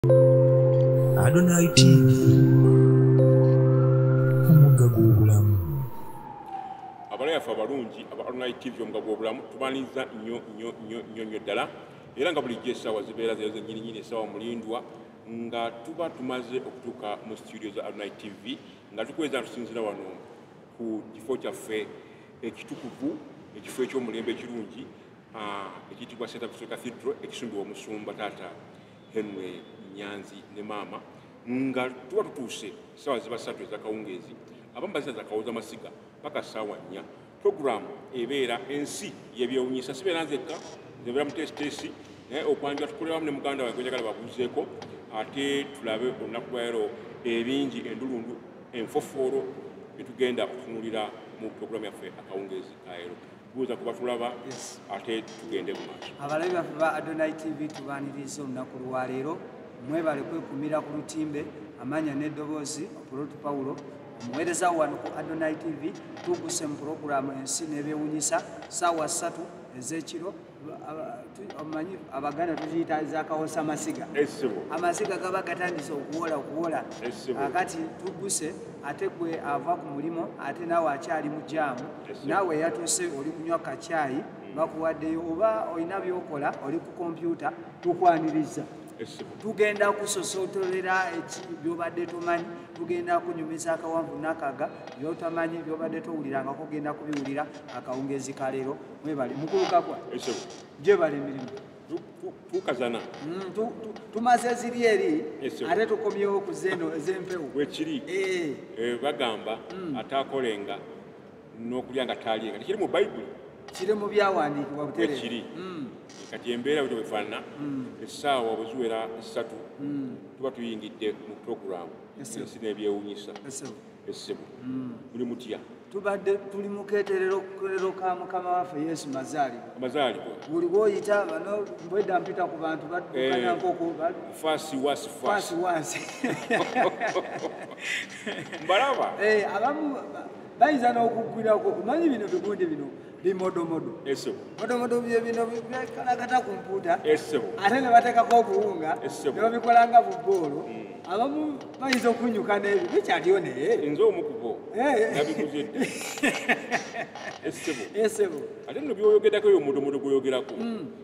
Adonai TV omugga gw'obulamu abalayi affe abalungi aba Adonai TV omugga gw'obulamu tubaniriza nnyo nnyo nnyo nnyo nnyo ddala era nga bulijjo essaawa zibeera zeero zennyininyini essaawa mulindwa nga tuba tumaze okutuuka mu situdio za Adonai TV nga tukweza tusinzira wano ku kifo kyaffe ekitukuvu ekifo eky'omulembe ekirungi ah, ekiyitibwa St. Augustine Cathedral ekisumbibwa omusumba taata Henry Nyanzi ne maama nga tuba tutuuse ssaawa ziba ssatu ezakawungeezi abamu bazina zakawooza masiga paka ssaawa nnya puroguramu ebeera ensi yebyewunyisa sibeera nzekka nzebeera mutesitesi naye okwanja tukolewamu ne muganda wange gwenjagala babuuzeeko ate tulabe olunaku lwalero ebingi endulundu enfofoolo etugenda okutunulira mu puroguramu yaffe akawungeezi kaero kubuuza kuba tulaba ate tugende mu maaso abalabi baffe ba adonai tv tubaniriza olunaku lwaleero mwebale kwekumira ku lutimbe amanya n'eddoboozi opulotu pawulo omuweereza wano ku adonai tv tuguse mu pulogulaamu ensi n'ebyewunyisa saawa ssatu ez'ekiro omanyi abaganda tukiyita zakawosa amasiga amasiga gaba gatandise okuwola okuwola akati tuguse ate gwe ava ku mulimu ate naawe akyali mu jaamu naawe yatuse oli kunywa kakyayi hmm. bakuwaddeyo oba olina byokola oli ku kompyuta tukwaniriza tugenda kusosotolera byobadde tomanyi tugenda kunyumiza akawanvu nakaga byotamanyi byobadde towulirangako genda kubiwulira akawungezi kalero Mwebale mukulu kakwa. Ekyo. Jebale mirimu. Tukazana. Mm, tu, tu, tumaze ziri eri ate tukomyewo ku zeno ez'empewo. Wekiri. Eh. Eh bagamba mm. atakolenga n'okulya nga taalinga. Kiri mu Bayibuli. Kiri mu byawandiikibwa butere. Wekiri. Mm. Kati embeera bwe bwefaanana mm. essaawa bwe ziwera essatu mm. tuba tuyingidde mu pulogulaamu ensi n'ebyewunyisa. essebo hmm. muli mutya tubadde tuli muketerero ka mukama waffe yesu mazaalibwa buli woyita bano bwedda mpita ku bantu badukanankokoasiwasiwasi mbalaba eh, abamu bayinza n'okugwirako omanyi bino bigundi bino bimodomodo modomodo byebino bikalagata ku mpuuta ate ne bateekako obuwunga ne babikola nga buboolo hmm. abamu bayinza okunyuka n'ebyo bikyaliyo naye nze omu kubo eh. nabikuze dda esebo esebo ate no byoyogerako yo mudomodo gweyogerako hmm.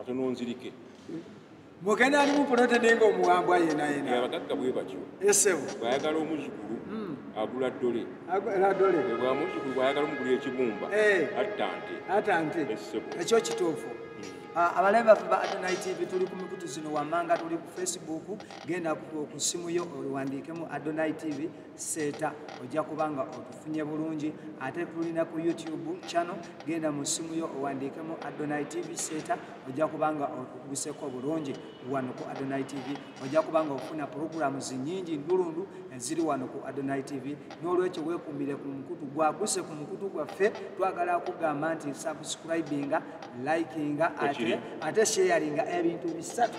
ate nonzirike mugenda alimu pulotede nga omuwambwa yenayenaabagagga bwe batyo esebo bwayagala omuzukulu hmm. agula dole bwa muzukulu bwayagala omugula ekibumba eh. attante attante esebo ekyo kituufu Ah, abalabe baffe ba adonai tv tuli ku mikutu zino wammanga tuli ku facebook genda ku simu yo owandiikemu adonai tv seeta ojja kuba nga otufunye bulungi ate tulina ku youtube channel genda mu ssimu yo owandiikemu adonai tv seeta ojja kuba nga otuguseko bulungi wano ku adonai tv ojja kuba nga ofuna puroguramu zinyingi ndulundu eziri wano ku adonai tv n'olwekyo weekumbire ku mukutu gwaguse ku mukutu gwaffe twagala kugamba nti subscribinga likinga ate sharinga ebintu bisatu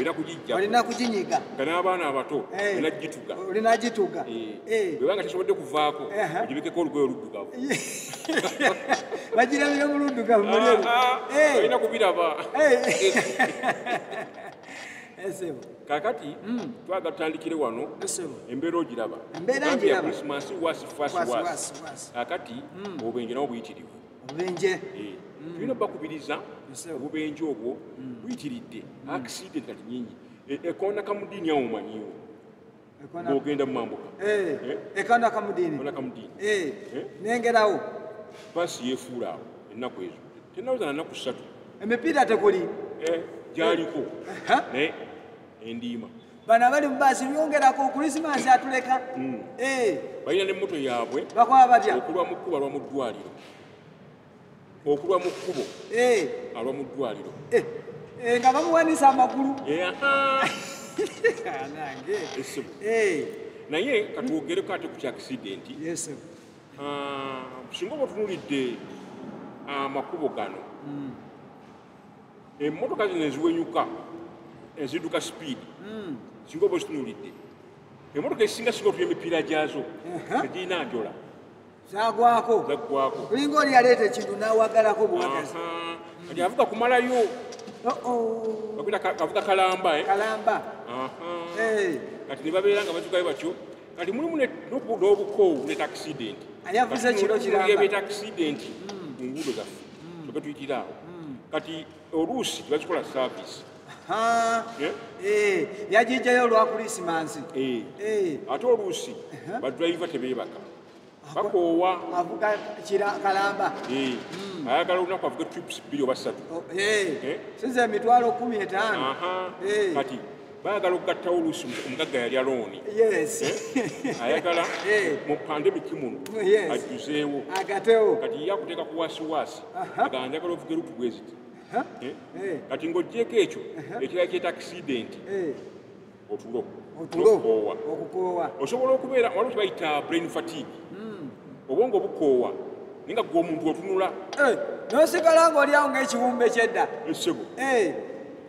era kugijja olina kuginyiga nga n'abaana abato eh. olina gituga olina gituga eh. eh. bwebanga tesobodde kuvaako ogibekeko olugoye oluddugavu bagirabire mu luddugavu mulolina ah, ah, ah. kubiraba kakati hmm. twaga tutandikire wano embeera ogiraba kakati hmm. obenjenawo buyitirivu obubenje eh, mm. tulina bakubiriza obubenje obwo mm. buyitiridde mm. akiside kati nyingi e, ekona kamudiini awo omanyiwo ogenda mumambuka eh, eh? ekona kamudiini nengerawo basi yefuula awo ennaku ezo tenaweza nanaku satu emipiira tekuli gyaliko naye endiima bano abali mubaasi byongerako okulisimansi atuleka hmm. eh. balina ne moto yaabwe bakwaba batya okulwa mu kkubo alwa mu ddwaliro okulwa mu kkubo eh. alwa mu ddwaliro eh. nga bamuwanisa amagulu naye katwogereko ate ku kyakisidenti ah, singa oba otunulidde amakubo gano hmm. emmotoka zino eziwenyuka eziduka sipiidi hmm. singa oba ozitunulidde emmotoka ezisinga singa otuya emipiira gyazo tegirina njola zagwako zagwako olinga oli yaleeta ekintu nawagalako buwagazi kati avuga kumalayo avuga kalamba eh? kalamba eh. kati nebabeera nga bazugayo batyo kati mulimu n'obukoowu ne takisidenti ani avuze kiro kiramba ebyetakisidenti hmm. mu nguudo zaffe mm. kyoke tuyitira awo mm. kati oluusi tebakikola service eh? Eh, yajijayo olwa kulisimansi eh. ate oluusi uh-huh. badriva tebebaka bakoowa avuga kalamba hmm. ayagala olunaku avuge trips bbiri oba ssatu oh, sinza emitwalo kumi etaano kati baagala okugattawo oluusi omugagga yalya looni eh? ayagala eh. mu pandemiki muno ajjuzeewo kati ye akuteeka ku waasiwaasi agala njagala ovuga erutu bweziti eh? kati ng'ogyeko ekyo ekirala kyeta akisidenti otulo okukoowa osobola okubeera waliwo kibayita brain fatigue hmm. obwongo obukoowa naye nga gwe omuntu otunula nosigala ng'olyawo ng'ekiwumbe kyedda esebo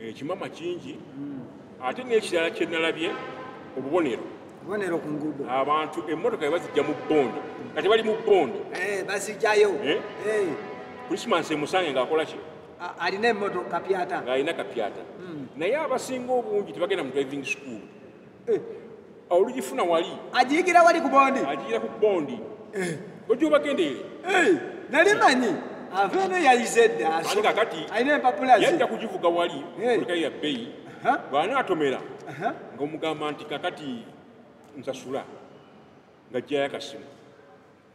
ekimama eh, kingi hmm. ate n'ekirala kye nalabye obubonero obubonero ku nguudo abantu emmotoka ye bazijja mu bbondo kati bali mu bbondo eh, bazijjayo eh? krisimasi emusange ng'akola ki alina emmotoka kapyata ng'alina kapyata hmm. naye abasinga obungi tebagenda mu driving school eh, olugifuna wali agiyigira wali ku bondi agiyigira ku bondi eh. ojobagendere eh, nali manyi ava eno yayize eddaakakati alina empapula yajja kugivuga wali olikayi ya bbeyi bw'anaatomera ng'omugamba nti kakati nsasula nga jjayakasimu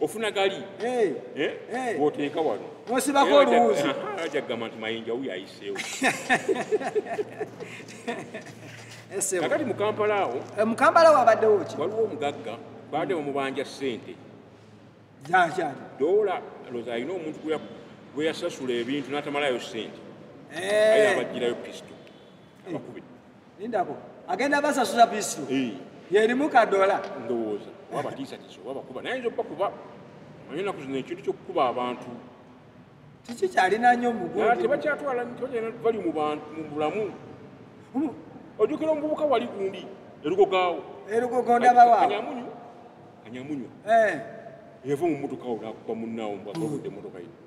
ofuna gali eh? Eh? Eh. woteeka wano osibako oluwuzi aja kugamba nti mayinja wuyo ayiseewo kakati mukampala awo mukampala awo abaddewo ki waliwo omugagga baade omubanja ssente zakyali dola loza alina omuntu gweyasasula ebintu natamalayo ssente aye abajjirayo pisto abakubi lindako agenda basasuza bisu eh. yerimu kadola ndowooza wabatiisatiisa oba bakuba naye nza okubakuba omanyi enaku zino ekintu kyokukuba abantu kiki kyalina nnyo mutebakyatwala tebagenda bali mu bulamu ojukira omuvubuka wali gundi erugogaawo erugogondabawaanyamunyu anyamunyu eh. yava mu motoka wo nakuba munnaawo mbwakude motoka yino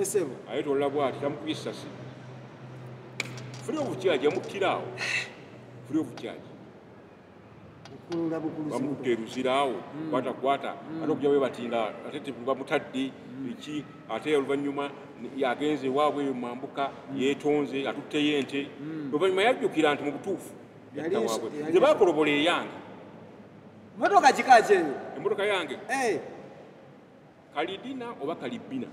esebo aye tolla bwati tamukubye essasi free of charge amuttira awo free of charge bamukutte eruzira awo hmm. kwata kwata hmm. ate okuja webatinga ate bamutadde hmm. eki ate oluvannyuma yagenze ewaabwe eyo mambuka yetonze atutteyo ente oluvannyuma yajjukira nti mu butuufu yattawabwe nze bakolobola eyange motoka kika kyeyo emotoka yange eh. kalidina oba kalibina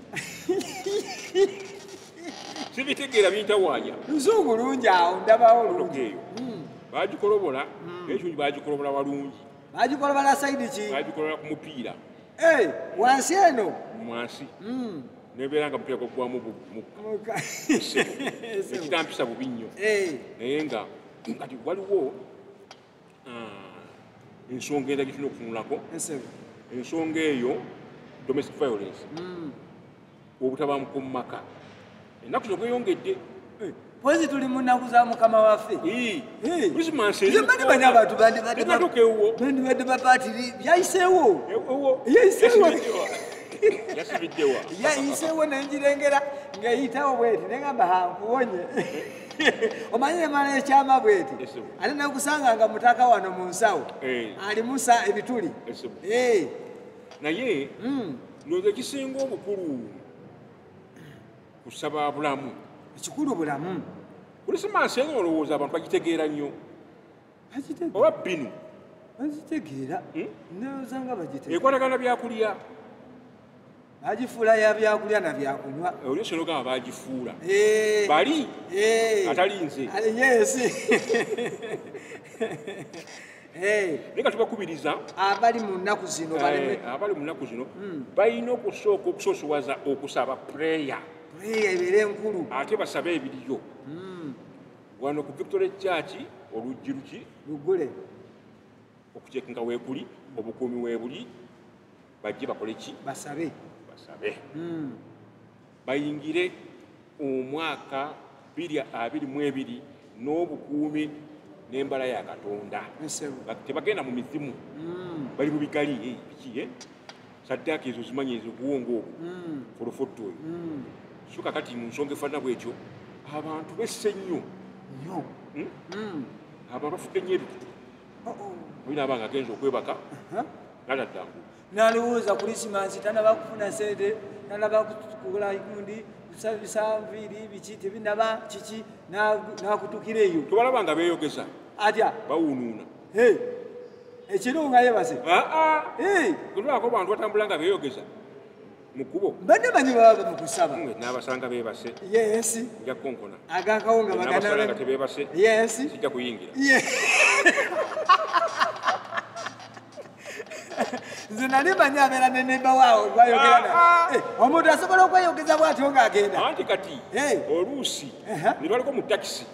sibitegeera bintawanya luzungu lungi awo ndabawo lungeeyo hmm. bagikolobola hmm. naye kingi bagikolobola walungi bagikolobola saidi ki bagikolobola ku mupiira eh, wansi eno mwansi hmm. nebeera nga mupiira gwagwamu ekitampisa bubi nnyo eh. naye nga kati waliwo ah, ensonga enda gyetulina okutunulako ensonga eyo domestic violence hmm. obutabanguko mu maka ennaku zino bweyongedde eh. pozi tuli mu nnaku za mukama waffe mani bani abantu bandibadde bapaati byayiseewo yayiseewo yayiseewo nenjirengera ng'eyitawo bweti nengamba hankuwonye omanyi emala ekyama bweti ate nakusanga nga mutaka wano mu nsawo eh. alimusa ebituli eh. naye hmm. ndoza ekisinga obukulu kusaba bulamu ekikulu bulamu kulisimansi eno olowooza abantu bagitegeera nnyo oba binu bazitegeera hmm? ndowoza nga bagitegeera ekwatagana byakulya bagifuula ya byakulya na byakunywa eh, oli osobola ogamba bagifuula eh. bali eh. atali nze yesi naye nga tubakubiriza abali mu nnaku zino abali mu nnaku zino hmm. balina okusooka okusoosowaza okusaba pureya pureya ebeere enkulu ate basabe ebiriyo hmm. wano ku victory church oluggi luki lugule okucekinga wekuli obukuumi webuli bajje bakole ki basabe basabe hmm. bayingire omwaka biri abiri mu ebiri n'obukuumi n'embala ya katonda tebagenda mu mizimu hmm. bali mu bigali eh, biki eh? saddaaka ezo zimanyi ezo obuwongo obwo hmm. ku lufuttu oyo hmm. so kakati mu nsonga efaanana bwekyo abantu besse nnyo nyo hmm? abo abafudde nnyo ebikutu oh, oh. olina abanga agenza okwebaka uh-huh. naladdangu nalowooza kulisimansi tanaba kufuna sente tanaba kukula gundi bisanviiri biki tebinaba kiki nakutukira eyo tobalaba nga beyogeza atya bawunuuna ekirunga yebaze kulwako bantu batambula nga beyogeza mukubo bane banyi baba mukusaba mwe nabasanga bebase yes nja konkona agakawo nga bagana nabasanga tebebase yes sija kuyingira nze nali manyi abeera ne nemba waawo gwayogerana ah, ah. eh, omuntu asobola okweyogeza bwatyo ng'agenda anti kati eh. oluusi ne baliko mu takisi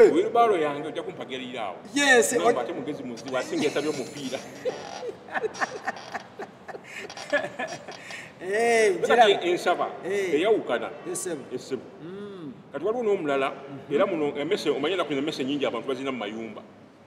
Eh. Wilbaro yange ojja kumpagerira awo. Yes. No, ate mugezi muzi wasinga esabye omupiira. Eh, njira ensaba eh. eyawukana. Esebo. Esebo. Mm. Kati waliwo n'omulala mm-hmm. era muno emese omanya nakuno emese nyingi abantu bazina mu mayumba.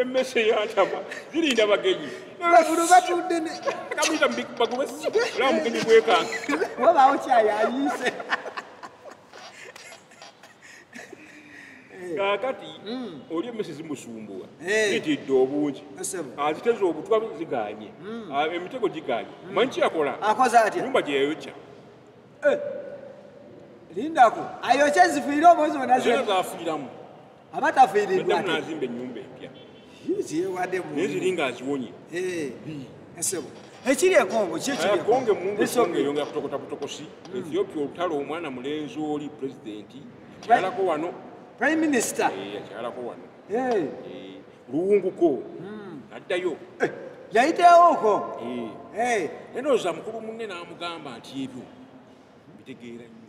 emmese yantama zirinda bagenyi bagulu batudde kamuyita bagube olaba mugenyi gwekanga wabaawo kyayo ayiise kakati hmm. oli emmese zimusumbuwa zitidde obungi aziteza obutwa ziganye hmm. ah, emitego giganye hmm. manyi kyeyakola nyumba gyeyayokya eh. lindako ayokya zifuire omwezi onazafuiramu abatafiiridwa ate nazimba ennyumba empya ziyewaddemu naye ziri nga aziwonye esebo ekiri ekongo kyekikonge mungesonga eyo nga kutokota butokosi hmm. ethiopia olutalo omwana mulenzi oli pulezidenti yakyalako wano prime minister eh, yakyalako wano eh. Eh, luwunguko hmm. addayo yayitewooko naye nooza mukulu munne n'amugamba nti ebyo mbitegeera nyo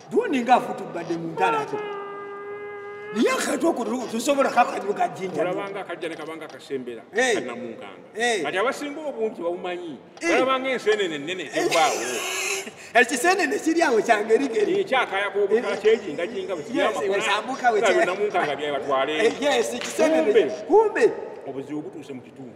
Dundi nga afutu bade mundala to. Niya kato ko to sobola ka ka ka jinja. Ola banga ka jana ka banga ka sembela hey. kana munganga. Hey. Kati abasingo obuntu bawumanyi. Hey. Ola banga ensene ne nene hey. bawo. Eki sene ne siri awo change rike. Ni cha kaya ko bu ka cheji nga jinga bu. Yes, we sambuka we che. Kana munganga bya batwale. Yes, eki sene. Kumbe. Obuzibu butu se mu kitundu.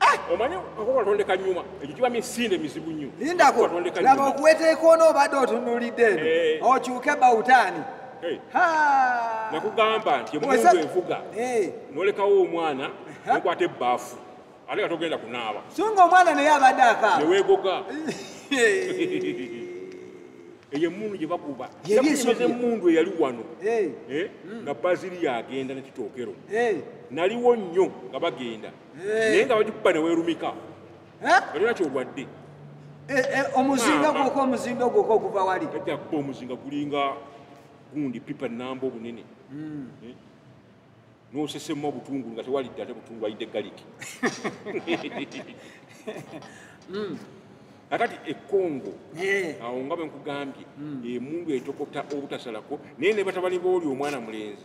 Ah! omanyi okukatondeka nyuma ekyo kiba misinde mizibu nnyo lindako laba okuweteeka ono obadde otunulidde eno eh. okyuke bawutaani eh. nakugamba nti omuntu envuga eh. nolekawo omwana nokwata ebbaafu ate nga togenda kunaaba so nga omwana naye abadde akaaba newegoga eyo emundu gye bakuba yakuimeza emundu eyali wano eh? Hmm. nga baziri yagenda nekitookero eh. naliwo nnyo nga bagenda naye nga bagikuba newerumika olina kyogwadde eh, eh, omuzinga gwoko omuzinga gwoko oguva wali ajakuba omuzinga gulinga gundi pipa namba obunene hmm. eh? nosesemu obutungulu nga tewalidde ate butungulu ayidde galiki hmm. akati ekongo awo nga bwenkugambye hmm. emundu etokota obutasalako naye nebatabani booli omwana mulenzi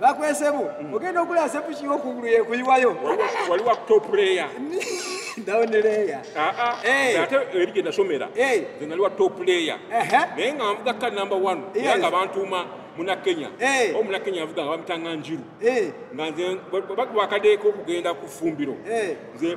bakwesebo mm. ogenda okula sepu kiwo kungulu yekuyiwayo wali wa top layer down layer ah ah hey. ate eri genda somera hey. nze nali wa top layer uh -huh. naye nga nvuga ka number 1 yes. yanga bantuma muna kenya hey. o muna kenya yavuga nga bamutanga njiru hey. nga nze bakadeko okugenda ku fumbiro hey. nze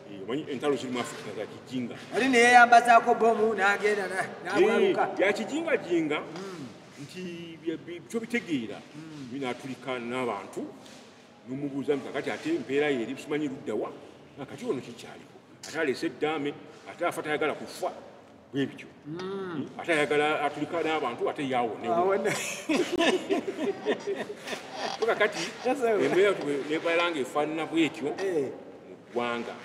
omanyi entalo ziri mu afrika za kijinga ali neyeyambazaako bomu nagenda nabwaluka ya kijinga jinga hmm. nti kyo bitegeera hmm. binatulika n'abantu nomubuuza nti kakati ate empeera yeeri simanyi luddawa kati ono kikyaliko ate aleese eddaame ate afa tayagala kufa bwebityo hmm. ate ayagala atulika n'abantu ate yawoneoka kati embeeranebalanga efaanana bwetyo eh. mu ggwanga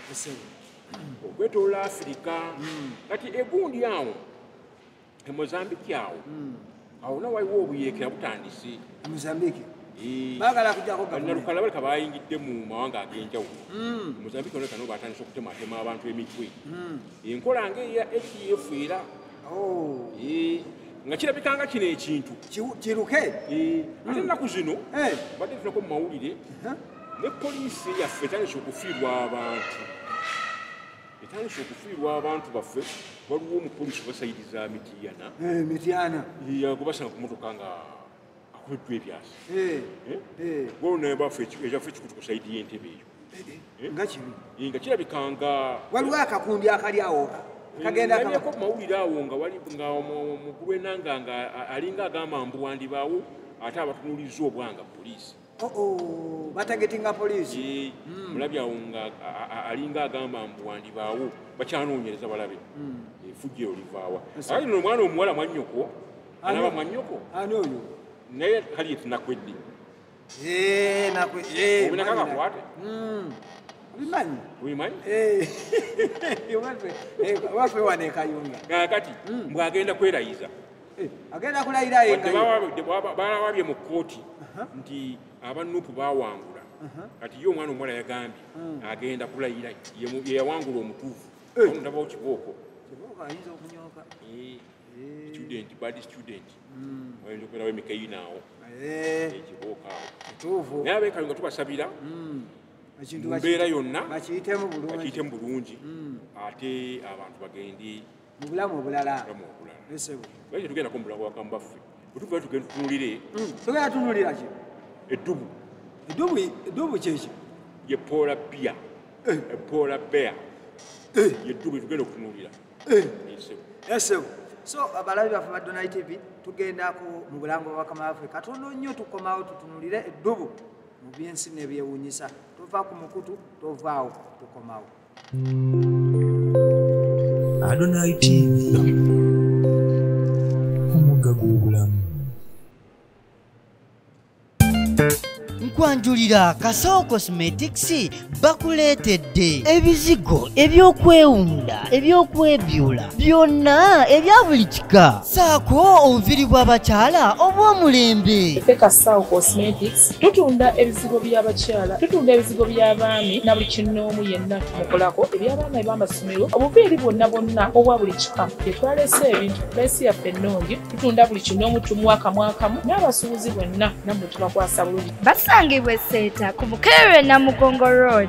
okwetolola afirika hmm. kati egundi awo emozambiki awo hmm. awo na waliwo obuyeekera butandise mozambike eh. bagala kujako gavumentialukala baleka bayingidde mu mawanga ag'enjawulo hmm. mozambike olekano batandise okutematema abantu emitwe hmm. enkola nga eya adf era oh. eh. nga kirabikanga kino ekintu kiruke eh. ate ennaku hmm. zino badde tunako mu mawulire ne poliisi yaffe etandise okufiirwa abantu etandise okufiirwa abantu baffe waliwo omupolisi basayidi za mityana eh, mityana yagobasanga ku motoka nga akubiddwa ebyasi eh, eh. waliwo naye bafe ekyaffe ekikutu ku sayidi y'entebe eyo nga kibi nga kirabika nga waliwo akakundi akali awoka kagendako mawulire awo nga wali nga omukulu enanga nga alinga agamba mbu wandibaawo ate abatunuulizza obwanga poliisi oh, oh, batagetinga poliisi hmm. mulabi awo nga alinga agamba mbu wandibaawo bakyanoonyereza balabe hmm. efujja eyo livaawa ayi no omwana omuwala mwanyoko anaba mwanyoko ani oyo naye kali etinakwedde eh, eh, obinakakakwate hmm. bimanyi bimanyi eh. waffe wanekayunga kakati mbwagenda kwerayiza Eh, agenda kulayira yebalawabye mu kkooti nti abanupu bawangula kati ye omwana omuwala yagambye hmm. agenda kulayira yeyawangula omutuufu eh. ndabawo kibooko eh, student bad student hmm. ayinza okubeerawo emikeyinaawo ekibooko awo naye abekayo nga tubasabira hmm. mumbeera yonna bakiyitemu bulungi ate abantu bagende mu bulamu obulala naye tetugendako mu bulamu bwakamu baffe bwetuva tugenda tutunulire hmm, tugenda tunulira ki eddubu eddubu eddubu kyeki ye poola bia eh. e poola bea eh. ye ddubu tugenda okutunulira eh. esebo so abalabi baffe ba donai tv tugendako mu bulamu bwabakama baffe katono nnyo tukomawo tutunulire eddubu mu byensi nebyewunyisa tova ku mukutu tovaawo tukomawo Adonai TV omugga gw'obulamu okwanjulira kasawo cosmetics bakuleetedde ebizigo ebyokwewunda ebyokwebyula byonna ebya buli kika saako obuviri bw'abakyala obw'omulembe kasawo cosmetics tutunda ebizigo by'abakyala tutunda ebizigo by'abaami na buli kinnoomu yenna tumukolako eby'abaana eb'amasomero obuviiri bwonna bwonna obwa buli kika etwaleese ebintu pulaisi yaffe ennungi tutunda buli kinnoomu tumuwa kamwakamu n'abasuubuzi bwenna nammwe tubakwasa bulungi basangibwa eseeta ku bukeerwe namugongo road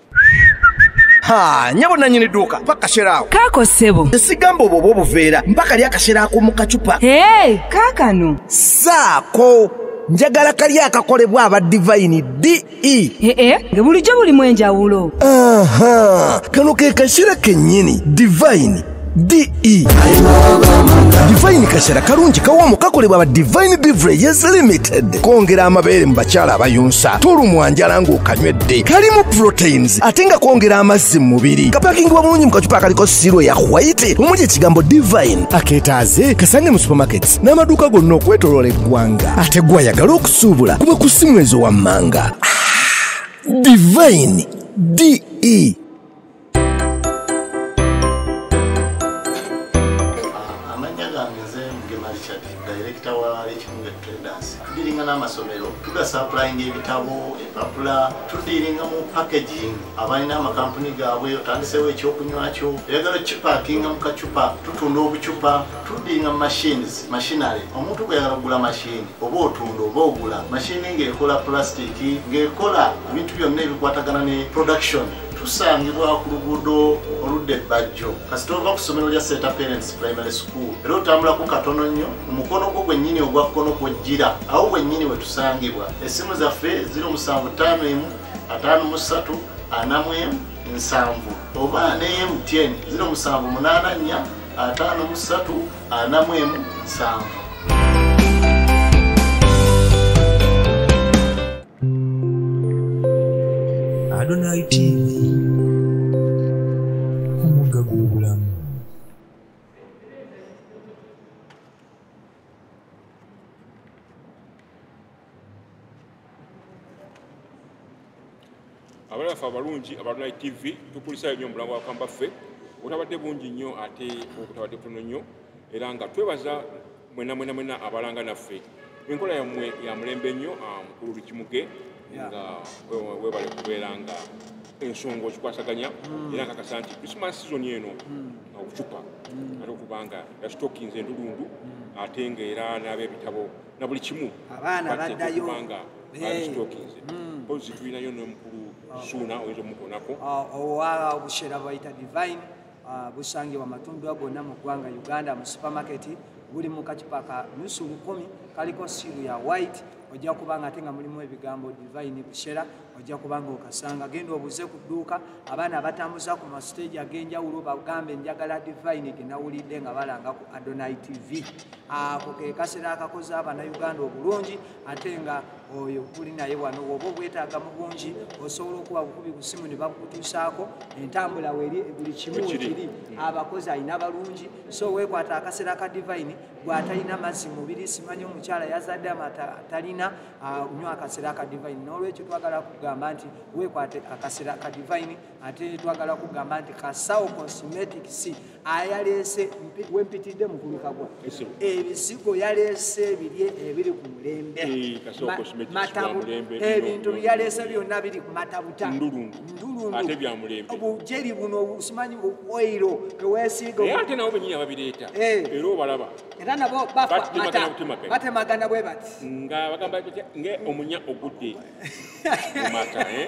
ha nyabo nanyini duuka paka sheraawo kaako ssebo esigamba obwo obwo obuveera mpaka lya akasera ak'omu kacupa hey, kaakano saako njagala kali akakolebwa aba divayini de ee eh, eh, nga bulijjo bulimu enjawulo kano ke kasera kennyini divayini de divine kashera kalungi kawomu kakolebwa ba divine beverages limited kongera amabeere mu bakyala abayunsa tolumwa njala ng'okanywedde kalimu proteins ate nga kongera amazzi mu mubiri kapakingibwa bulungi mu kacupa akaliko siiro ya white omuli ekigambo divine akeetaaze kasange mu supermarkets n'amaduuka gonna okwetoloola eggwanga ate gwayagala okusuubula kuba ku simwezo wammanga ah, divine de n'amasomero tugasapulainga ebitabo empapula tudiiringa mu packaging abalina amakampuni gaabwe otandiseewo ekyokunywakyo eyagala kipakinga mu kacupa tutunda obucupa tudiinga machines machinary omuntu gweyagala okugula mashini oba otunda oba ogula mashini ng'ekola pulastiki ng'ekola ebintu byonna ebikwatagana ne production tusangibwa ku luguudo oludda ebbajjo kasita ova ku ssomero lya seta parents primary school era otambulako katono nnyo mu mukono gwo gwennyini ogwa kkono kwojjira awo wennyini we tusangibwa essimu zaffe ziri omusanvu ttaano emu ataano mu ssatu anamu emu nsanvu oba neye mtn ziri omusanvu munaana nnya ataano mu ssatu anamu emu nsanvu Adonai TV omugga gw'obulamu abana ffe abalungi abalunai tv tukulisayo nnyo omulango wakamba ffe obutabadde bungi nnyo ate obutabadde butono nnyo era nga twebaza mwena mwena mwena abalanga naffe enkola yammwe ya mulembe nnyo ah, mukulu lukimuge nga webale kubeera nga ensonga okikwasaganya hmm. era nkakasa nti christmas season eno hmm. okucupa hmm. ate okubanga yasitokinze endulundu ate ngaera n'abebitabo na buli kimu abaana baddayo kubanga babitookinze eh. hmm. pozi tulinayo nomukulu oh. suuna oyinza omukonako ah, owa obushera bayita divine ah, busangibwa matundwa gonna mu ggwanga uganda mu supermarket buli mu kacupa ka nusu lukumi kaliko siiru ya white ojja kuba nga ate nga mulimu ebigambo divine bushera ojja kubanga okasanga genda obuze ku dduuka abaana abatambuza ku masiteegi ag'enjawulo bagambe njagala divine genawulidde nga balanga ku adonai tv ako ke kasera akakoze abanauganda obulungi ate nga oyo kuli naye wano woba obwetaaga mu bungi osobola okuba bukubi ku simu ne bakutuusaako entambula weri buli kimu wekiri abakozi alina balungi so wekwata akasera ka divine gwatalina mazzi mubiri simanyi omukyala yazadde amatalina unywa ah, akasera aka divine n'olwekyo twagala kugamba nti wekwate akasera ka divine ate twagala kugamba nti kasawo cosmetic c ayaleese wempitidde mukulukagwa ebizigo yaleese biri ebiri ku mulembe eh, matabu ebintu byaleese byonna biri ku matabuta ndulundu obujeri buno obusimanyi obuoiro tewesiiga ate nawo benyini ababireeta eh. era obalaba era nabo bafa mata batemagana bwe bati nga bagamba nge omunya ogudde mumata eh?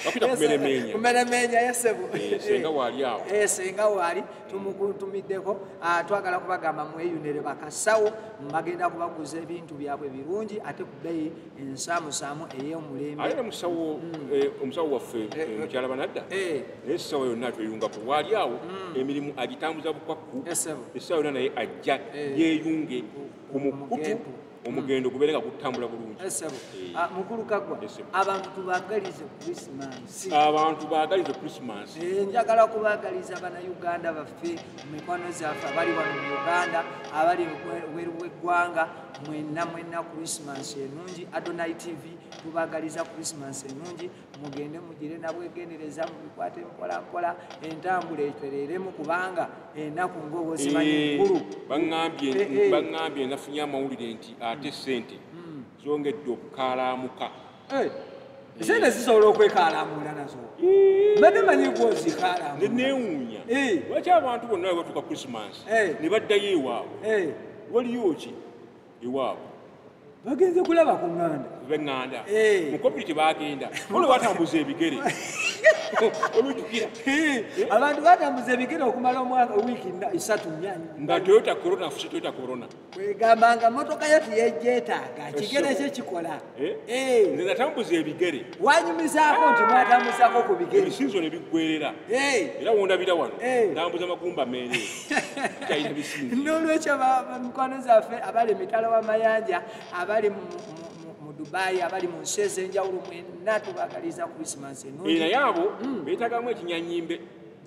bakuita kumeremenya kumeremenya yesebu eh, senga wali awo eh, senga wali tumukuntumiddeko ah, twagala kubagamba mweyunere bakasawo bagenda kubaguza ebintu byabwe birungi ate ku bbeyi ensamusaamu eyomulembe aye nomusawo mm. eh, omusawo waffe eh, eh, mukyala banadda naye esawa yonna tweyungako waali awo mm. emirimu agitambuza bukwakku esawa yonna naye ajja yeyunge ku mukutu omugendo mm. gubeere nga gutambula bulungi ah, mukulu kagwa abantu tubagalize krisimansi abantu bagalize krisimansi njagala kubagaliza banauganda baffe mu mikono zaffe abali wano mu uganda abali weru weggwanga mwenna mwenna christmas enungi adonai tv tubagaliza christmas enungi mugende mugire nabwegendereza mubikwate mpolampola entambula etereremu kubanga enaku ngaobozimanyikulu baambye eh, eh. nafunye amawulire nti ate sente hmm. zongedde okukalamuka Eh, sente zisobola okwekalamuula nazo mbadde manyi gwozikalamulanewuunya eh. lwaki abantu bonna we batuuka krisimansi eh. ne baddayo ewaabwe waliyo ki ewaabwe bagenze kulaba ku ŋŋanda beŋŋanda mu kopiri tebagenda olwo batambuza ebigere olujukira abantu batambuza ebigere okumala omwaka wiiki isatu nga toyota corona fusi toyota corona kwegamba nga motoka yo teyejjetaaga kigere kye kikola eh? Eh. nze natambuza ebigere wanyumizaako nti mwatambuzako ku bigere ebisinzo ne biggwerera eh. era wondabira wano ntambuza magumba meere talina bisinzo n'olwekyo mikwano zaffe abali emitala w'amayanja abali dubai abali mu nsi ez'enjawulo mwenna tubagaliza krisimansi enungi naye abo hmm. beetagamu ekinyanyimbe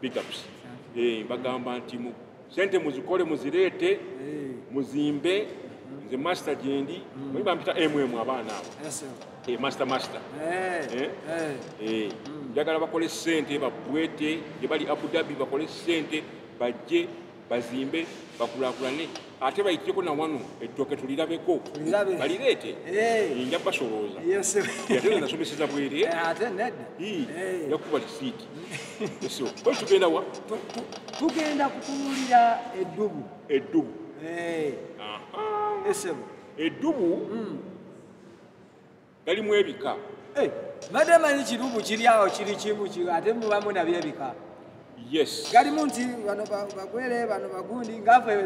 big ups eh bagamba nti mu sente muzikole muzireete eh. muzimbe mm-hmm. nze master jendi mm. mwe bampita mm abaana abo yes eh master master eh eh, eh. eh. Mm. njagala bakole sente babwete ye bali Abu Dhabi bakole sente bajje bazimbe bakulakulane ate bayiteko na wano ettooke tulirabeko balireete nja basolooza ate nasomeseza bwere yakuba lisiiti ko tugenda wa tugenda kutunulira eddubu eddubu esebo eddubu hmm. galimu ebika eh, mbadde manyi kirubu kiri awo kiri kimu ate mubamu nabyo ebika yes galimu nti bano bagwere bano bagundi ngaafe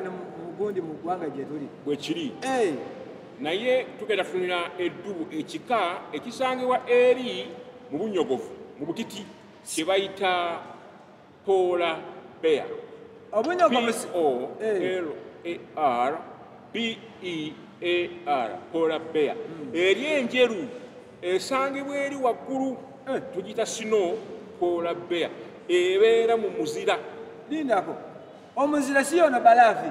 mugundi mu ggwanga gye tuli bwe kiri eh. naye tugenda tunira eddubu ekika ekisangibwa eri mu bunyogovu mu butiti kye bayita Polar bear. Obunya kwa mesi. O eh. L A R B E A R. Polar bear. Hmm. Eri enjeru esangibwa eri waggulu eh. tugita sino polar bear. Ebeera mu muzira. Lindako. Omuzira si yona balafi.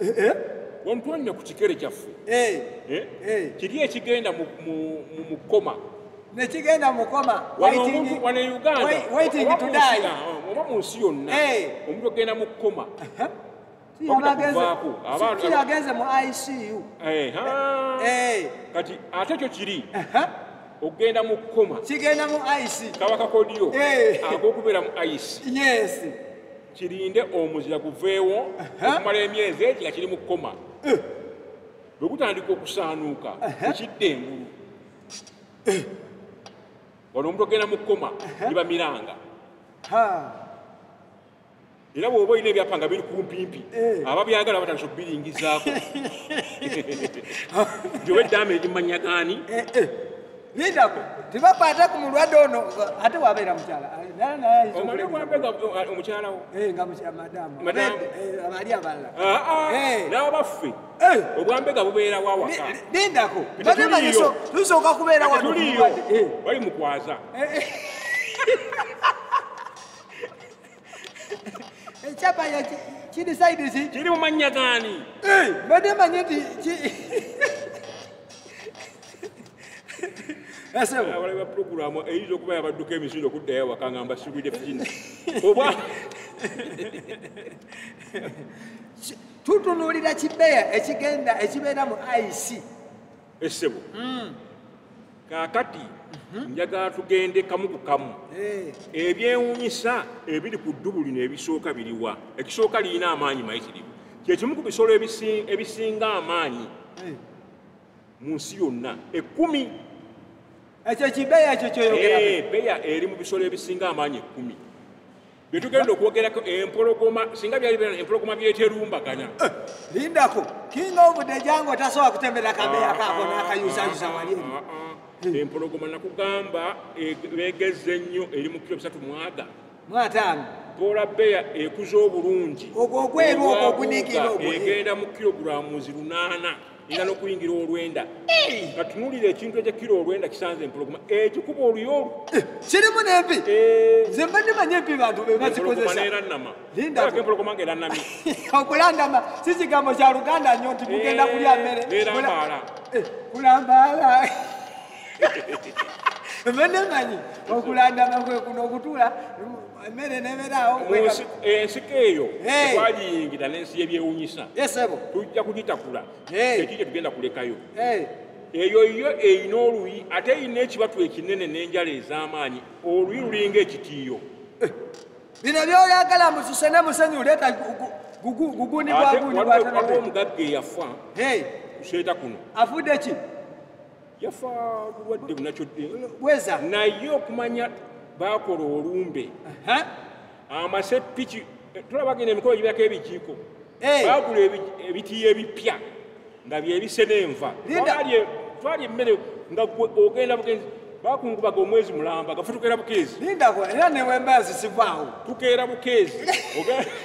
eh, eh? wamutwalina ku kikere kyaffe eh, kiri ekigenda mu koma nekigenda mukoma wano e uganda oba mu nsi yonna omuntu ogenda mu koma agenze mu icu kati ate kyo kiri okugenda mu koma kigenda mu ice kabaka kodiyo agokubeera mu ice yes kirinde omuzira guveewo okumala emyezi egi nga kiri mu kukoma eh. bwe gutandika okusaanuuka ekidda engulu eh. wano omuntu ogenda mu kukoma liba miranga era bwoba olina ebyapa nga biri kumpimpi eh. ababyagala batandisa okubiringizaako gyoba eddaama eri mu mannya gaani Lindako, tebakwata ku mulwadde ono ate wabeera mukyala omukyala wo eh, nga madamu eh, abali abalala ah, ah. eh. n'abaffe obwambega bubeera wawaka lindako batemanyiso tusooka kubeera watuliyo bali mukwaza ekyapa kiri saidisi kiri mumannya gani mbadde manyi nti abalaba puroguramu eyinza okuba yabadduka emisinde okuddayo awaka nga mbasibwide fina oba tutunuulira kibeya ekigenda ekibeera mu ic esebo hmm. kakati mhm. njagala tugende kamu ku kamu eh. ebyewunyisa ebiri ku ddubu lino ebisooka biriwa ekisooka lirina amaanyi mayi kiriwo kyekimu ku bisolo ebisinga amaanyi eh. mu nsi yonna ekkumi ekyo kibeya ekyo kyoyogeabeya eh, eri mu bisolo ebisinga amaanyi ekkumi byetugenda okwogerako empologoma singa byali bena empologoma byeterumbagana eh, lindako kinga obude jango tasobola kutembera kabeya ah, kako nakayusayusa ah, wali ah, empologoma nakugamba e, begeza ennyo eri mu kiro bisatu mwaga mwataano boola beya ekuza obulungi ogwo ogweru ogwo ogunikira ogwo egenda mu kilogulamuzi lunaana era nokuyingira olwenda katunulira ekintu ekyekira olwenda kisanze empologoma ekikuba oluyolu eh, kirimu nempi eh. nze mba ndimanya empi bantu bebazikozesaaempologoma nga eranamye okulandama si kigambo kya luganda nyo nti mugenda eh, kulya mmere erambaala kulambaala mba nemanyi okulandama kwekuno okutula emmere neberaawo ensiko eyo twagiyingira n'ensi yebyewunyisa tujja kugitakula ekyo kyetugenda kulekayo eyo yo erina oluyi ate erina ekibatu ekinene n'enjala ez'amaanyi oluyi lulinga ekitiiyo eh, bino byoyagala mususe ne musenyu leeta gugunibwagunibwatewaliwo omugagga eyafa kuseeta kuno afudde ki yafa bulwadde bunakyo bweza naye okumanya bakola olumbe amase piki tulabagenda emikolo gibako ebijiiko eh. bagula ebitiyo ebipya nga byebise nenva twali emmere nga ogenda bugenzi bakungubaga omwezi mulamba gafutukera bukeezi lindako era newembazi sivaawo tukeera bukeezi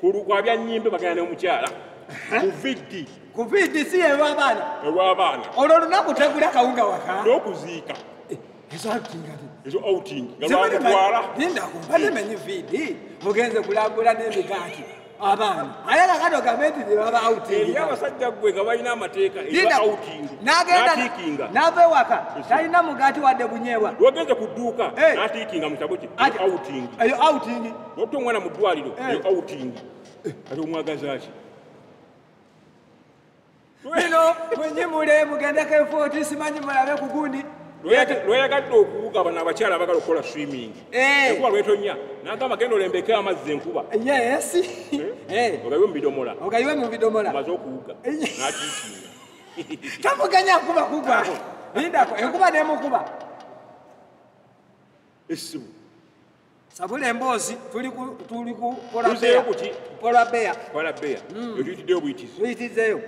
kulukwa bya nyimbe bagana ne omukyala kuvidi kuvidi si ewa abaana ewa abaana olwo olunaku tegula kawunga waka n'okuziika eh, ezo atingati ezo outing galwamutwala lindako batemenye vidi mugenze kulagula n'emigaati abaana aye kakati ogambe nti nebaba outing abasajja gwe nga balina amateeka nagendaatikinga nava ewaka talina mugaati wadde bunyeebwa wagenze ku dduuka eh. naatikinga mu kitabu kye outing eyo outing Notta omwana mu ddwaliro eh. eyo outing eh, kati omwagaza ki lweno mwenyimule mugendeko efooti simanyi mulabe ku gundi lweyagadde okuwuga bano abakyala abagala okukola swimming eh. enkuba lwetonya nagamba genda olembeke amazzi enkuba ogayiwe mubidomola ogayiwe mubidomola maze okuwuga nakikiina tamuganya nkuba kugwako lindako enkuba nemukuba esimu sabula emboozi tuli kukolabeya ekitiddeyo buyitizeyo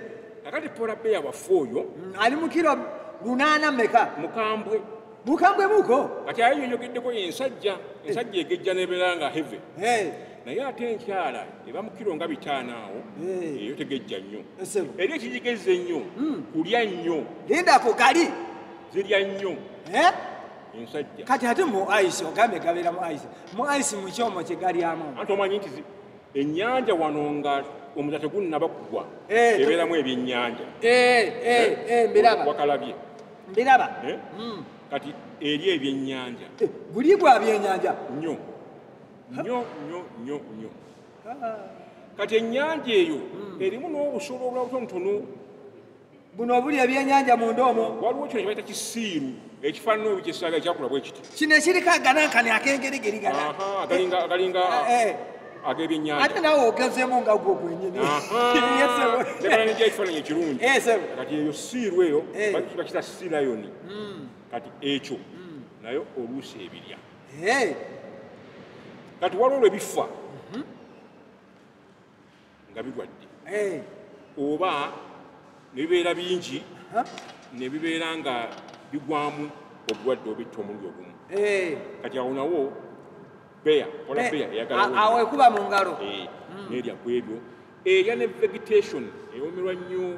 akati polabeya waffe oyo mm, ali mukiro lunaana meka mukambwe mukambwe muko kati ayo yoyogeddeko ensajja ensajja egejja nebeera nga heve naye ate enkyala eba mukiro nga bitaano awo eyo tegejja nnyo era ekigigezza ennyo mm. kulya nnyo lindako gali zirya nnyo ensajja kati ate mu ice ogambye gabeera mu ice mu ice mu kyomo kye galyamu anti omanyi nti ennyanja wano nga omuza tegunnaba kugwa eh, ebeeramu ebyennyanja eh, eh, mbiraba wakalabye mbiraba hmm. kati eri ebyennyanja guli gwa byennyanja nyo nyo nyo nyo nyo ah. kati ennyanja eyo hmm. erimu n'obusolo obulabutonotono buno obuli ebyenyanja munda omwo waliwo kino kibaita kisiiru ekifaanana olu kyesaaga ekyakula bwe kiti kino ekiriko aganankani akengeregeriganaagalinga eh, eh. ag'ebyenyanja ate nawe ogezemu nga gwo gwenyini ekifaananyi ekirungi eh, kati eyo siiru eyo bakita sirayoni hmm. kati ekyo hmm. naye oluusi ebirya kati waliwo lwe bifa nga bigwadde eh. oba ne bibeera bingi ne bibeera nga bigwamu obulwadde obitta omulundi ogumu eh. kati awo nawo beya ola beya eyagalawo ekuba mu ngalo hmm. nerya ku ebyo erya ne vegetation ewomerwa nnyo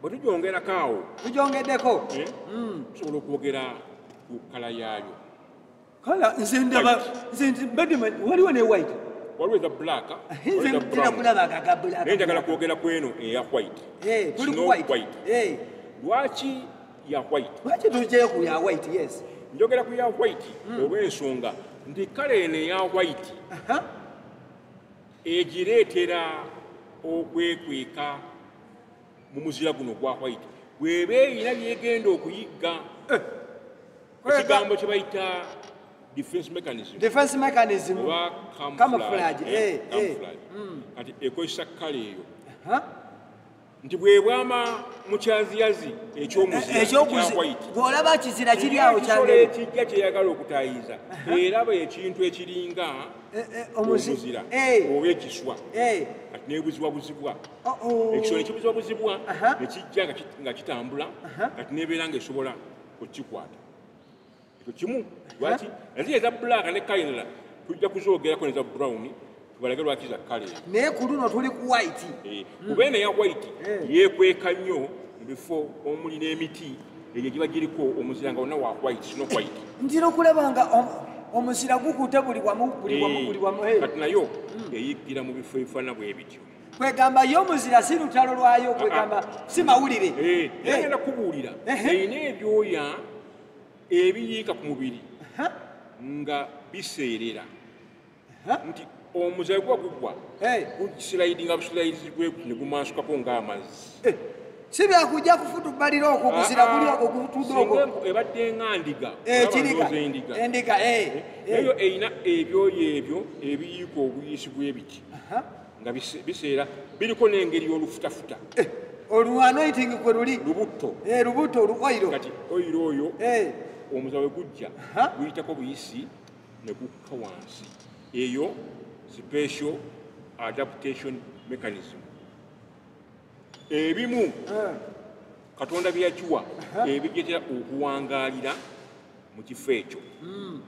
bwe tugyongerako awo tugyongeddeko eh? hmm. tusobola okwogera ku kala yaayo kala nze ndaba nze mbadde waliwo ne white waliwo eza black naye njagala kwogera ku eno eya white eh, snow white eh. lwaki ya white lwaki tujeyo ku ya white yes njogera ku ya white hmm. olw'ensonga nti kala eno eya white egireetera okwekweka mu muzira guno gwa white bweba erina byegenda okuyigga eh. ekigambo kye bayita defense mechanism defense mechanism oba camouflage eh, eh, camouflage hmm. kati ekozesa kale eyo nti bwebwama mukyaziyazi ekyomuziolaba kizira kiri awo kyekijja kyeyagala okutayiza eraba ekintu ekiringa omuzira oba ekiswa kati nebuzibwa buzibwa ekisolo nekibuza obuzibwa nekijja nga kitambula kati nebeera nga esobola okukikwata ekyo kimu lwaki nazi eza black ne kainala tujja kuzogerako neza brown tubalage lwaki za kale naye ku luno tuli ku white eh, kuba eno ya white eh. yekweka nnyo mu bifo omuli n'emiti egyo giba giriko omuzira nga wonna wa white sino white ntira okulaba nga omuzira gukuute buli wamu buli wamu buli wamu eh. kati nayo hmm. eyiggira mu bifo ebifaanana bwebityo kwegamba yo muzira si lutalo lwayo kwegamba si mawulire eh, eh. yagenda kubuulira erina ebyoya ebiyiika ku mubiri nga biseerera nti omuzayi guba gugwa gusilaidinga busilaidi gweku ne gumansukako ng'amazzi eh, si byakujja kufutubbalira okwo guzira guli ah, ah. ogwo gutudde ogwo ebadde nga ndiga ekiriga eh, endiga eyo eh, erina ebyoyo ebyo ebiyiika obuyiisi bw'ebiti nga biseera biriko n'engeri y'olufutafuta eh, oluanoiting kwe luli lubutto eh, lubutto olu oiro kati oiro oyo eh. omuza we gujja guyitako buyisi ne gukka wansi eyo special adaptation mechanism ebimu eh. katonda byeyakiwa eh. ebijetera okuwangaalira mu kifo ekyo hmm.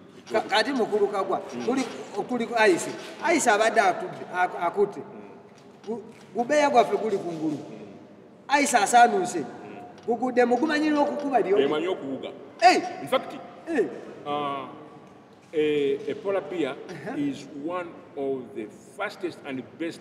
kati mukulu kagwa hmm. kuli ayise ayise abadde atudde akutte hmm. gubeya gwaffe guli ku ngulu ayise asaanunse gugudde mugumanyira okukuba lyomanyi okuwuga infact eh. ah, a, a polar bear uh -huh. is one of the fastest and best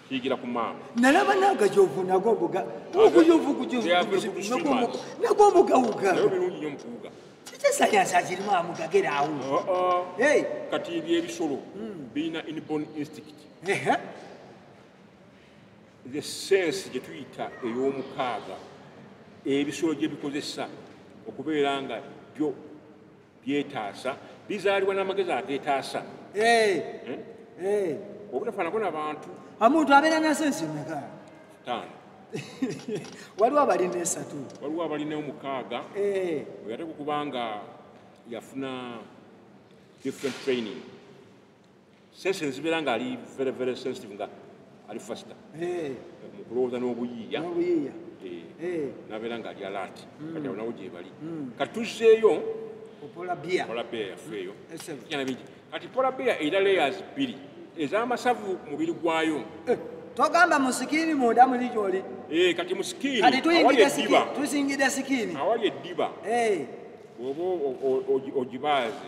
yigira ku maama nalaba nagajovu nago mbuga nago mbugawuga kitesayansazirimu amugageraawo kati ebyo ebisolo hmm. birina inborn instinct the sense gye tuyita ey'omukaaga ebisolo gye bikozesa okubeera nga byo byetaasa bizaalibwa n'amagezi ageetaasa eh, hmm? eh. obutafaanako nabantu omuntu abeera nasensi meka taano waliwo abalina esatu waliwo abalina omukaaga eh. oyate kukubanga yafuna different training sense nzibera nga ali very very sensitive nga ali faster eh. mukulowooza n'obuyiiya eh. eh. nabeera nga ali alati hmm. kati awo nawo gyebali hmm. kati tuzzeeyo pola beer yaffe eyo hmm. bingi kati pola beer erina layers bbiri ez'amasavu mubiri gwayo togamba musikiini munda muli gyoli kati musikiini tuyingide sikiini awali eddiba bwoba ogibaaze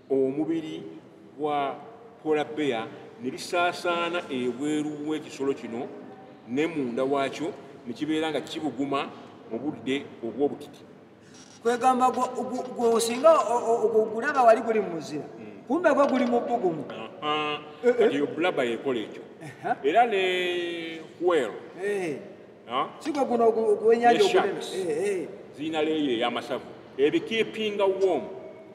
omubiri gwa pola beya ne lisaasaana ebweru w'ekisolo kino ne munda waakyo ne kibeera nga kibuguma mu budde obw'obutiti kwegamba gwosinga ogulaba wali guli mumuzira hmm. kumbe gwe guli mubugumu eyo bulaba yekola ekyo era ne hwel eh. sigwe guno ogwenyanja ogunene eh, eh. zirina leeyo ey'amasavu ebikipinga womu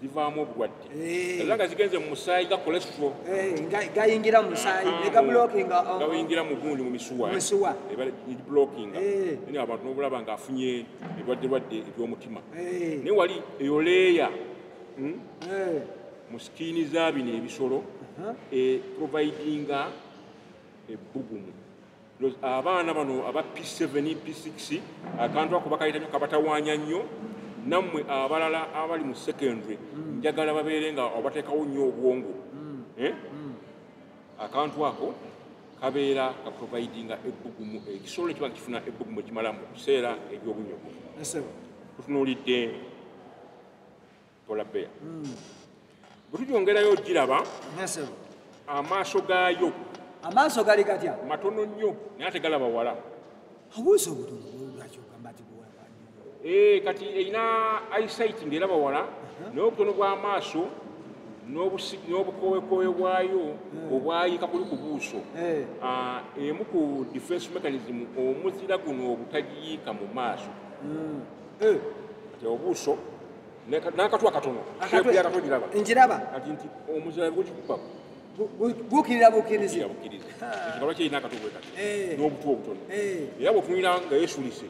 zivaamu obulwadde eh. era nga zigenze mu musaayi ga cholesterol eh, gayingira mu musaayi ah, negablokinga oh. gayingira mu gundi mu misuwa eblokinga eh. naye abantu nobulaba nga afunye ebirwadde lwadde ebyomutima naye wali eyo leeya hmm? mu sikiini za bino ebisolo uh-huh. providinga ebbugumu abaana bano aba p7 p6 akantu ako bakayita nyo kabatawanya nnyo nammwe abalala abali mu secondary mm. njagala babeere nga obateekawo nnyo obwongo mm. Eh? Mm. akantu ako kabeera ka providinga ebbugumu ekisolo ekiba nga kifuna ebbugumu ekimala mu biseera eby'obunyogovu tutunuulidde polar bear hmm. bwetujongerayo ogiraba amaaso gaayo amaaso gali gatya matono nnyo naye ate galaba wala abuusa obutonogamba ti eh, kati erina isait ngaeraba wala uh-huh. naye obutono bw'amaaso n'obukowekooyo bwayo hmm. obwayika kuli ku buuso eh. ah, emu ku defense mechanism omuzira guno obutagiyiika mu maaso hmm. eh. obuuso nakatwa katono njiraba bukirira bukiriza ekikaba kirina akatwe bwe kati eh. n'obutwe obutono eh. era bwotunulira nga yesulise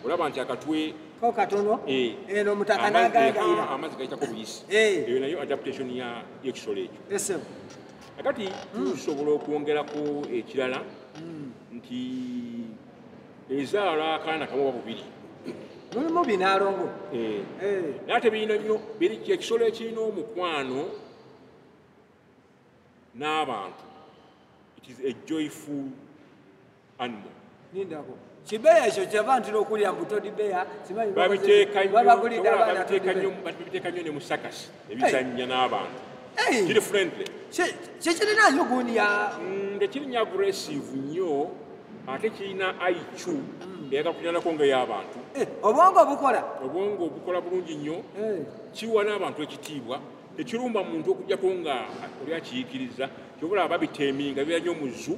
olaba nti akatwe ko katono eh. eno omutaka nagagaira amazzi gayitako buyisi eyo nayo adaptation ya ekisolo ekyo akati hmm. tusobola okwongeraku ekirala hmm. nti ezaala akaana kamu oba bubiri mulimu binaalongo eh. eh. naye tebirina nnyo biri kyekisolo ekirina omukwano n'abantu it is a joyful animal nindako kibeya ekyo kyava ntira okulya mbutodibeya babiteeka nnyo ne musakasi ebizannya n'abantu kiri friendly kyekirina nyo gundi ya mm, tekirinya aggressive nnyo ate kirina iq mm. eyaga kulinanako nga y'abantu eh, obwongo obukola obwongo obukola bulungi nnyo eh. kiwa n'abantu ekitiibwa tekirumba muntu okujjako nga oli akiyikiriza kyobola babiteminga bira nyo muzu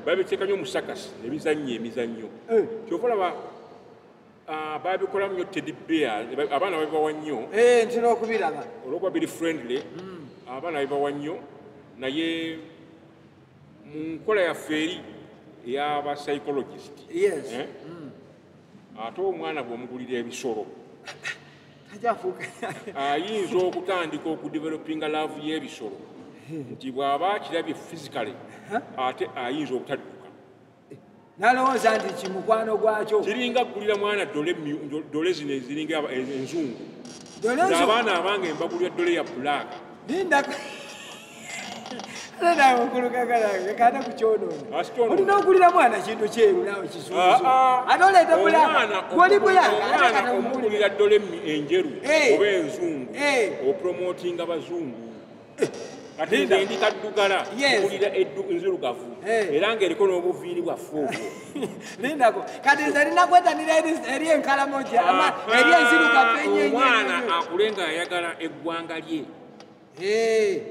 babiteeka nyo musakasi nebizannya emizannyo eh. kyobola Ah, babikolamu nyo teddy bear abaana babibawa nnyo eh, ntera okubiraba olwokuba biri friendly hmm. abaana babibawa nnyo naye mu nkola yaffe eri eyaba psychologist eh? hmm. ate omwana bwomugulira ebisolo ayinza okutandika okudevelopinga laavu y'ebisolo hmm. nti bw'aba akirabye physically ate ayinza obutadduka nalowooza nti kimukwano gwakyo kiringa kugulira mwana dole zino eziringa enzungu abaana abange mbagulira dole ya bulaaka olina okulira mwana kintu kyeru nawe kisuate oleeta bulaoli bulaomugulira dole enjeru oba enzungu opromotinga bazungu katinda ndi kaddugala kulira eddu nzirugavu eh. era ng'eriko n'obuviiri bwaffe obwo lindako kati nze lina kwetanira eri enkalamoja ama ah, eri enzirugavu ah, enyeomwana akule nga ayagala eggwanga lye eh.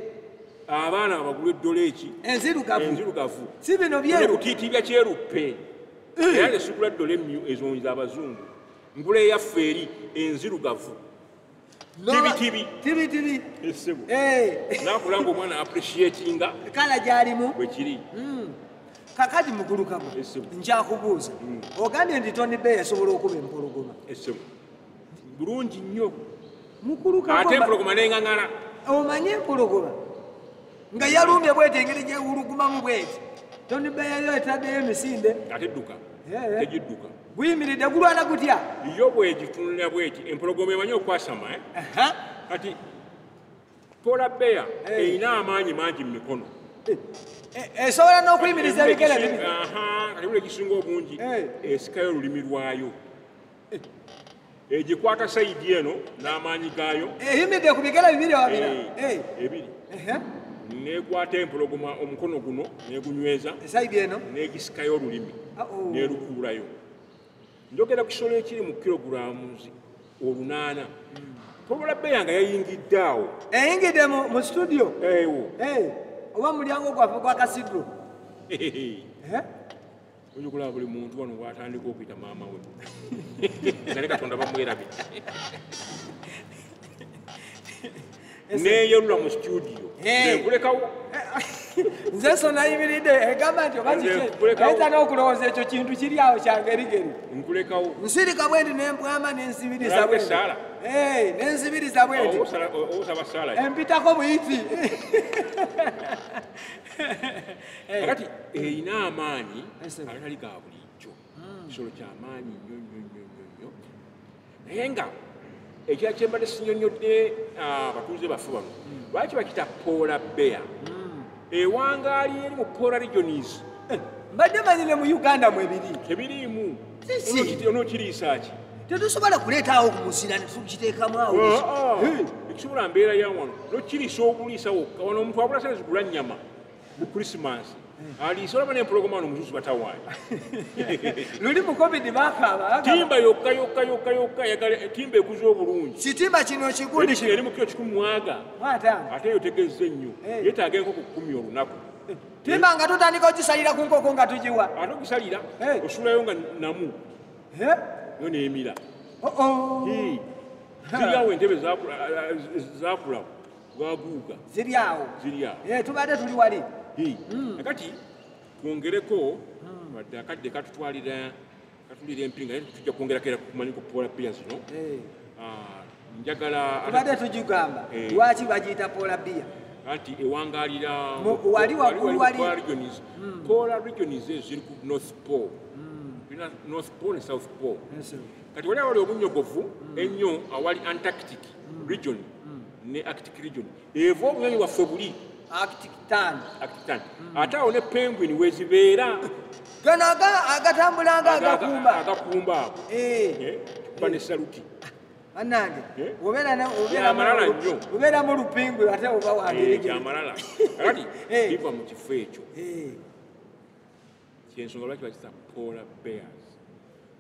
abaana abagula eddola eki enzirugavu si bino byerutiitibya kyeruppe eh. era nesigula ddola emmyu ezonyiza abazungu ngula eyaffe eri enzirugavu tibitibi tibitibi esebo eh nakula ngo mwana appreciating kala jalimu bwe kiri mm kakati mukulu kabo esebo nja kubuza mm. ogambye ndi toni be yasobola okuba empologoma esebo bulungi nnyo mukulu kabo ate empologoma nenga ngala omanye empologoma nga yalumbye bwete engeri gyewulugumamu bwete toni be yayo etaddeyo emisinde ate dduka eh, eh. tejidduka guyimiridde gulwana gutya yo bwegitunulira bweti empologoma emanyi okwasama eh? kati pola beya eh. erina amaanyi mangi mu mikono eh, eh, esobola n'okuyimiriza ebigere kati buli egisinga obungi esikayo olulimi lwayo egikwata eh, sayidi eno n'amaanyi gaayo eyimidde eh, ku bigere bibiri wabira eh, ebiri nekwata empologoma omukono guno negunyweza esayidi eno negisikayo olulimi ah, oh. nerukuulayo njogera kusolo ekiri mu kilogulamu olunaana hmm. tobola beya nga yayingidde awo eyingidde mu situdio ewo oba mulyango gwaffe gwakasidro oyinza okulaba buli muntu wano watandika okuyita maama we nga ne katonda bamwerabi neyerula mu situdio nkulekawo nze sonayimiridde egamba nti obaayinza n'okulowooza ekyo kintu kiri awo kyangerigeri nkulekawo nsirika bwe ndi nembwama nenzibiriza bwe nenzibiriza bwe ndi empitako buyiti Eh. kati erina eh, amaanyi agatali ga bulijjo hmm. kisolo kyamaanyi nnyo nnyo nnyo nnyo nnyo naye nga ekira kyembadde sinyonyodde ah, abatuuze baffe bano hmm. lwaki bakita poola beya hmm. ewangaali eri mu poola regionis eh, mbadde manyi ne mu uganda mu ebiri tebiriimu onokiriisaaki tetusobola kuleetaawo kumusira netukiteekamu awo ah, ah. ekisobola mbeera yawano nokiriisa obuliisa wokka wano omuntu abula sente zigula nnyama mu krisimansi aliise olaba nempologoma no muzuzu batawaanya luli mu covid bakaaba timba yokka yokka yokka yokka yagala timba ekuza obulungi kitimba kino kiguli kino eri mu kiro kikumi mwaga ate eyo tegezze nnyo eh. yetaaga enkoko kukumi olunaku eh, timba nga tutandika okisalira ku nkoko nga tugiwa ate okusalira eh. osulayo nga namu yo nemira oh, oh. ziriawo entebe zakulawo lwaguuga ziri awo eh, tubadde tuli wali hmm. kati twongereko hmm. wadde akadde katutwalira katulira empinga naye tujja kwongerako era kumanyi ku pola bia zino eh. ah, njagala tubadde tugigamba eh. lwaki bagiyita pola bia anti ewangalira wali waggulu wali hmm. pola regions ezo ziri ku north pole tulina north pole ne south pole kati wali awali obunyogovu ennyo awali antarctic region mm. ne arctic region eva obunyonyi waffe buli arctic tan arctic tan mm. ate awo ne penguin wezibeera gano agatambulanga agakumba agakumba ago eh. eh, kuba ne saluti banange eh? obeera mu lupingu ate oba wangeamalala kati biva mu kifo ekyo kyensonga lwaki bakisa polar bears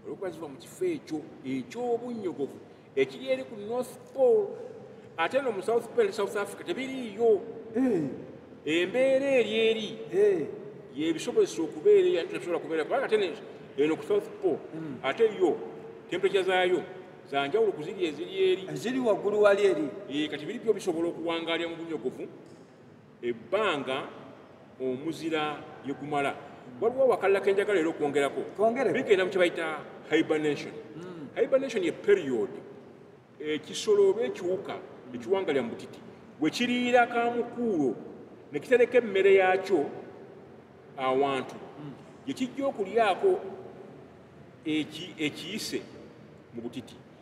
olwokuba ziva mu kifo ekyo eky'obunnyogovu ekiri eri ku north pole ate no mu south pole south africa tebiriiyo eh. embeera eri eri eh. yebisobozesa okubeera eyabisobola kubeera kubanga ate eno ku south pole hmm. ate yo temperature zaayo zanjawulo kuziri eziri eri eziri waggulu wali eri eh, kati biri byo bisobola okuwangalira mu bunyogovu ebbanga omuzira lye gumala waliwo wakalala ke njagala era okwongerako bigenda mu kye bayita hibernation hmm. hibernation ye period ekisolo oba ekiwuka ekiwangalya mu butiti we kiriira ka mukuulo ne kitereka emmere yaakyo awantu hmm. gye kijja okulyako ekiyise mu butiti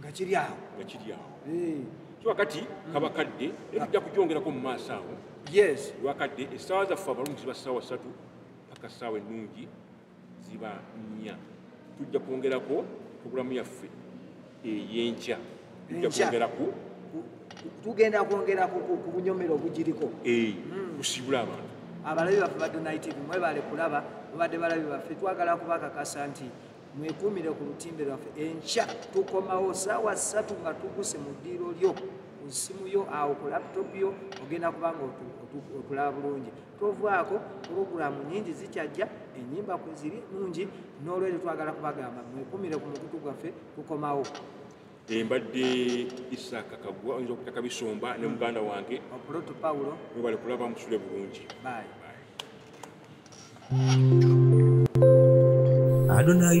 nga kiri awo nga kiri awo eh. so wakati kaba kadde naye tujja kujongerako mu maaso awo yes wakadde essaawa zaffe abalungi ziba ssaawa ssatu paka ssaawa ennungi ziba nnya tujja kwongerako puroguramu yaffe eyenkya tujja kwongerako tugenda kwongera ku bunyomero obugiriko eh, hmm. kusibula abantu abalabi baffe ba donitv mwebale kulaba mubadde balabi baffe twagala kubakakasa nti mwekuumire ku lutimbe lwaffe enkya tukomawo saawa ssatu nga tuguse mu ddiiro lyo ku ssimu yo awo ku laptop yo ogenda kubanga otulaba bulungi tovaako pulogulaamu nyingi zikyajja enyimba kweziri nungi n'olwekyo twagala kubagamba mwekuumire ku mukutu gwaffe tukomawo embadde isaaka kagwa oyinza okutaka bisomba ne muganda wange opuloto pawulo webale kulaba musule bulungi Bye. Adonai